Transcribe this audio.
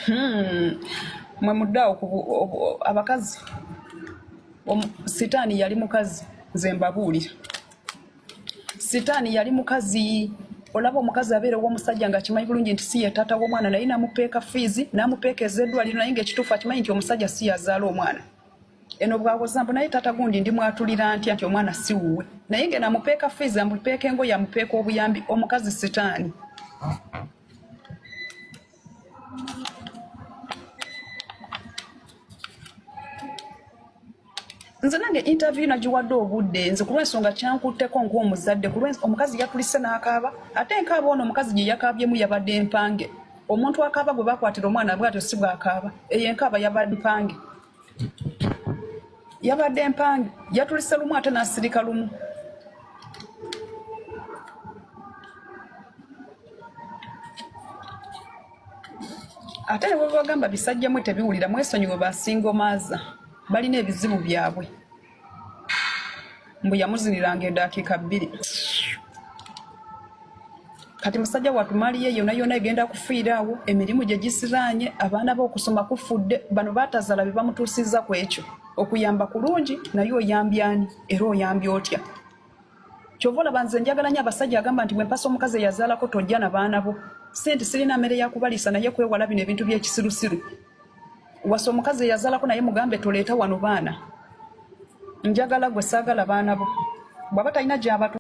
Hmm. mwe muddeawo abakazi sitaani yali mukazi nze mbabuulira sitaani yali mukazi olaba omukazi abeera owomusajja nga akimanyi bulungi nti si ye taata w'omwana naye namupeeka fiizi namupeeka ezeddwaliro naye ngaekituufu akimanyi nti omusajja si yazaala omwana eno bwawoza mbu naye taata gundi ndi mwatulira ntya nti omwana si wuwe naye nge namupeeka fiizi amupeeka engoye amupeeka obuyambi omukazi sitaani nze nange interview nagiwadde obudde nze ku lwensonga kyankutteko ng'omuzadde ku omukazi yatulise n'akaaba ate nkaaba ono omukazi gye yakaabyemu yabadde mpange omuntu akaaba gwe bakwatira omwana bwatyo si bwakaaba eyo enkaaba yabadde mpange yabadde mpange yatulise lumu ate n'asirika lumu ate ne bwebagamba bisajja mwe tebiwulira mwesonyiwe basinga omaaza balina ebizibu byabwe mbu yamuziniranga edakiika bbiri kati musajja watu mali ye yona yona egenda kufiiraawo emirimu gye gisiraanye abaana be okusoma kufudde bano batazala be bamutuusizza ku ekyo okuyamba kulungi naye oyambyani era oyambye otya kyova olaba nze njagala nyo abasajja agamba nti mwempasa omukazi eyazaalako tojja na baana bo sente sirina mere yakubaliisa naye kwewala bino ebintu byekisirusiru wasa omukazi eyazaalako naye mugambe toleeta wano baana njagala gwe saagala baana bo bwaba talina gyabatu